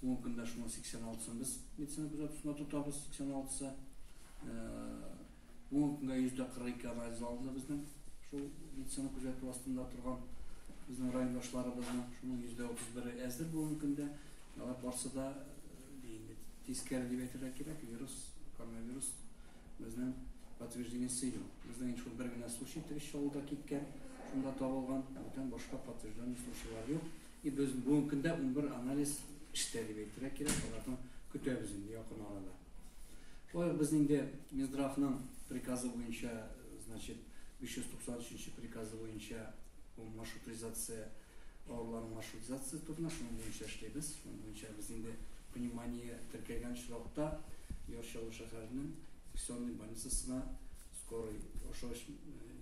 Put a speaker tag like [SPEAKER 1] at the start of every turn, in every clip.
[SPEAKER 1] 10 көндә шуның 86-сын без медицина күзәтүсендә тотабыз, 86-сы. 10 көндә 142 анализ алынды безнең шул медицина күзәтү астында торган безнең райондашларыбызның шуның 131-е әзер бүгенге көндә. Алар барсы да тискәре дип әйтергә кирәк, вирус, коронавирус безнең подтверждение сыймый. Безнең шул бер генә случай Трешчалыда киткән, шунда табылган, бүтән башка подтвержденный случайлар юк. И без бүгенге көндә унбер анализ эштә дип әйтергә кирәк, алардан көтәбез инде якын арада. Шулай ук без инде Минздравның приказы буенча, значит, 593 нче приказы буенча бу маршрутизация авырларның маршрутизация турында шуның буенча эшлибез. Шуның буенча без инде внимание теркәгән очракта Яр Чаллы шәһәренең инфекционный больницасына Скорый ошо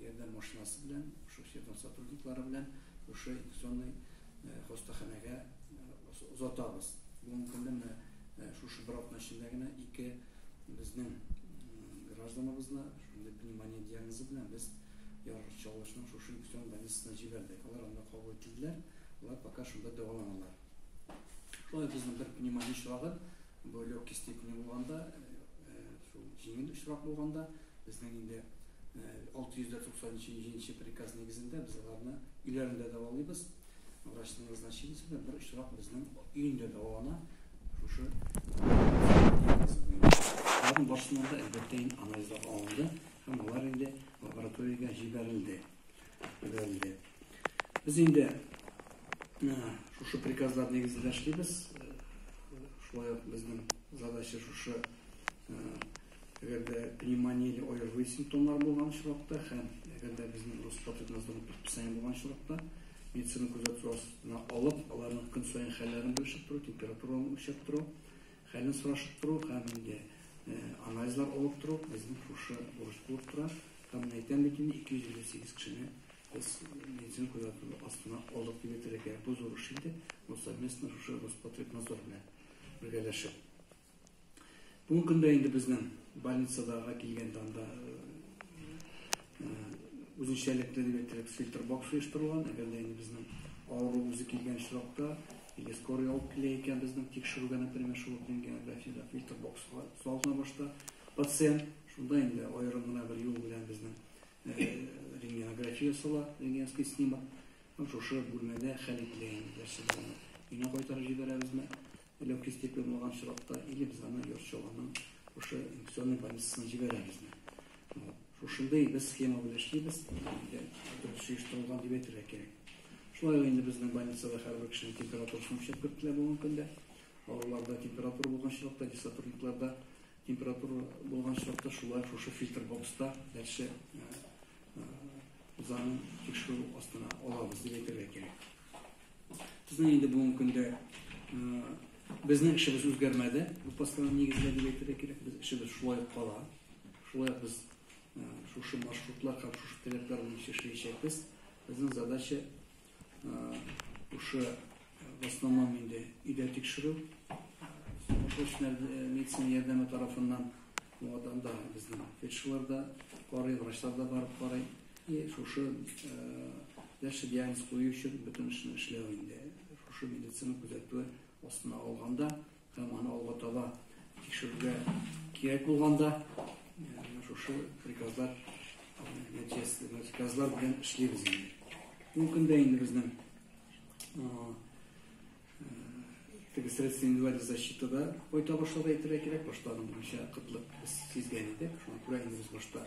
[SPEAKER 1] ярдәм машинасы белән, ошо ярдәм сотрудниклары белән ошо инфекционный хастаханәгә озатабыз. Бүгенге көндә менә шушы бер атна эчендә генә ике безнең гражданыбызны шундый пневмония диагнозы белән без Яр Чаллышның шушы инфекцион больницасына җибәрдек. Алар анда кабул ителделәр, алар пока шунда дәваланалар. Шулай безнең бер пневмония очрагы, бу легкий степени булганда, шул җиңел очрак булганда, безнең инде 697 приказ нигезендә без аларны өйләрендә дәвалыйбыз. Врачның назначениесе белән бер очрак безнең өендә дәвалана. Шушы Аларның барысыннан да әлбәттә анализлар алынды һәм алар инде лабораториягә җибәрелде. Бәлле. Без инде шушы приказлар нигезендә эшлибез. Шулай ук безнең задача шушы әгәр дә пневмония или ОРВИ симптомнары булган очракта һәм әгәр дә безнең Роспотребнадзорның предписание булган очракта медицина күзәтү астына алып, аларның көн саен хәлләрен белешеп тору, температураны үлчәп тору. Хәлен сорашып тору һәм инде анализлар алып тору безнең шушы бурыч булып тора. Һәм менә әйтәм бит инде, 258 кешене без медицина күзәтү астына алдык дип әйтергә кирәк. Бу зур эш инде, бу совместно шушы Роспотребнадзор белән бергәләшеп. Бүгенге көндә инде безнең больницадагыга килгәндә анда үзенчәлекле дип әйтерлек фильтр бокс оештырылган. Әгәр дә инде безнең авыру үзе килгән очракта, Нигә скорый алып килә икән безнең тикшерүгә, например, шул Ленгә, Бәфига, Фильтр бокска салына башта пациент, шунда инде аерым гына бер юл белән безнең рентгенография ясала, рентгенский снимок, һәм шушы бүлмәдә хәл ителә инде берсе дә аны өенә кайтарып җибәрәбезме, легкий степень булган очракта, или без аны йорт-чалгының шушы инфекционный больницасына җибәрәбезме. Шушындый без схема белән эшлибез. Дөрес оештырылган дип әйтергә кирәк. Шулай ук инде безнең больницада һәрбер кешенең температурасын үлчәп кертелә бүгенге көндә. Авыруларда температура булган чакта, диссотрудникларда температура булган чакта шулай шушы фильтр бокста дальше узаны тикшерү астына алабыз дип әйтергә кирәк. Безнең инде бүгенге көндә безнең эшебез үзгәрмәде. Бу постанова нигезендә дип әйтергә кирәк. Без эшебез шулай кала. Шулай ук без шушы маршрутлар һәм шушы теләкләр буенча эшләячәкбез. Безнең задача шушы в основном инде өйдә тикшерү, срочная медицина ярдәме тарафыннан анда безнең фельдшерлар да карый, врачлар да барып карый. И шушы дальше диагноз кую өчен бөтен эшне эшләү инде шушы медицина күзәтүе астына алганда. Һәм аны алга таба тикшерергә кирәк булганда, шушы приказлар нәтиҗәсе приказлар белән эшлибез инде. Бу көндә инде безнең теге средства индивидуальной защиты да кайта башлады әйтергә кирәк. Башта аның буенча кытлык без сизгән идек. Шуңа күрә инде без башта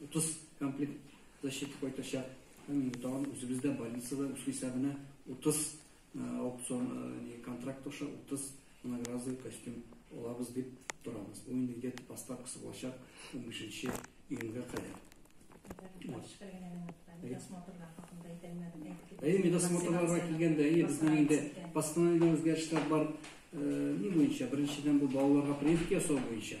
[SPEAKER 1] 30 комплект защита кайтачак. Һәм инде тагын үзебез дә больницада үз хисабына 30 аукцион контракт аша 30 многоразовый костюм алабыз дип торабыз. Бу инде где-то поставкасы булачак 15 июньгә кадәр. Әйе, медосмотрларга килгәндә, әйе, безнең инде постановление үзгәрешләр бар. Ни буенча? Беренчедән бу балаларга прививка ясау буенча.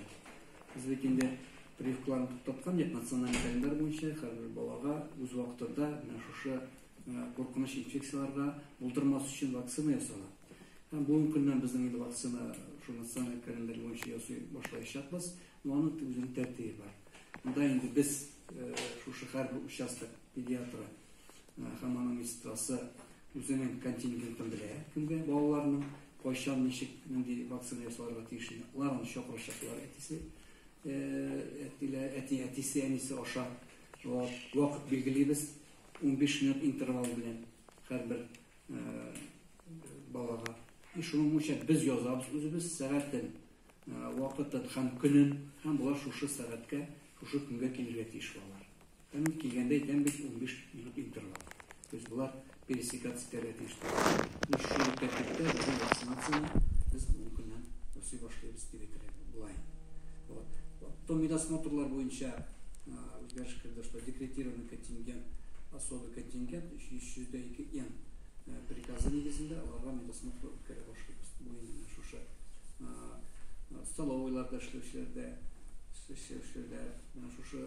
[SPEAKER 1] Безнеке инде прививкаларны туктаткан дип, националь календарь буенча һәрбер балага үз вакытында менә шушы куркыныч инфекцияләргә булдырмас өчен вакцина ясала. Һәм бүгенге көннән безнең инде вакцина шул националь календарь буенча ясый башлаячакбыз. Но аның үзенең тәртибе бар. Монда инде без шушы һәрбер участок педиатры Һәм аның медсестрасы үзенең контингентын белә, кемгә балаларның кайчан, ничек, нинди вакцина ясалырга тиешен, алар аны чакырачаклар, әтисе, әтиләре, әти, әтисе, әнисе аша. Шулар вакыт билгелибез, унбиш минут интервал белән һәрбер балага. И шуның буенча без язабыз үзебез сәгатен, вакытын һәм көнен, һәм болар шушы сәгатькә, шушы көнгә килергә тиеш балалар. Әмма килгәндә әйтәм бит, унбиш минут интервал. То есть болар пересекаться итәргә тиеш түгел. Менә шушы тәртиптә безнең вакцинацияне без бүген көннән ясый башлыйбыз дип әйтергә була инде. Вот. Потом медосмотрлар буенча үзгәреш керде, что декретированный контингент, особый контингент, 302 н приказы нигезендә аларга медосмотр үткәрә башлыйбыз. Бу инде менә шушы столовыйларда эшләүчеләрдә, эшләүчеләрдә менә шушы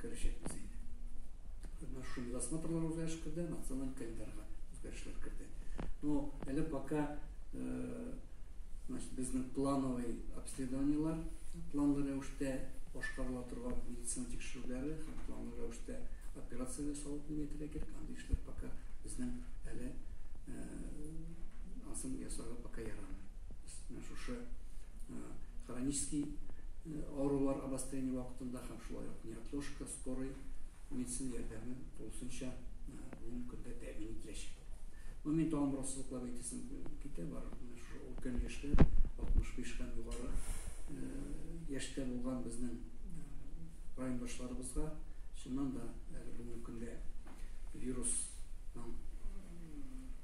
[SPEAKER 1] Керәчәкбез инде. Менә шундый досмотрлар үзгәреш керде, националь календарьга үзгәрешләр керде. Но әле пока значит, безнең плановый обследованиелар, планлы рәвештә башкарыла торган медицина тикшерүләре һәм планлы рәвештә операция ясау дип әйтергә кирәк, андый эшләр пока безнең әле ансын ясарга пока ярамый. Менә шушы хронический авырулар обострение вакытында һәм шулай ук неотложка, скорый медицина ярдәме тулысынча бүгенге көндә тәэмин ителәчәк. Ну, мин тагын бераз сызыклап әйтәсем китә, барып менә шушы өлкән яшьтә, 65 һәм югары яшьтә булган безнең райондашларыбызга чыннан да әле бүгенге көндә вирусның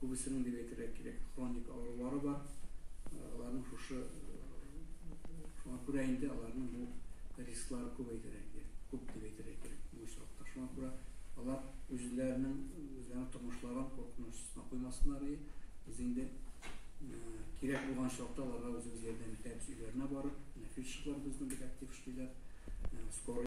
[SPEAKER 1] Күбесенең, дип әйтергә кирәк, хроник авырулары бар. Аларның шушы, шуңа күрә инде аларның бу рисклары күбәйдер әйге, күп дип әйтергә кирәк бу очракта. Шуңа күрә алар үзләренең, үзләренең тормышларын куркыныч астына куймасыннар и без инде кирәк булган чакта аларга үзебез ярдәм итәбез өйләренә барып. Менә фельдшерлар безнең бик актив эшлиләр. Скорый.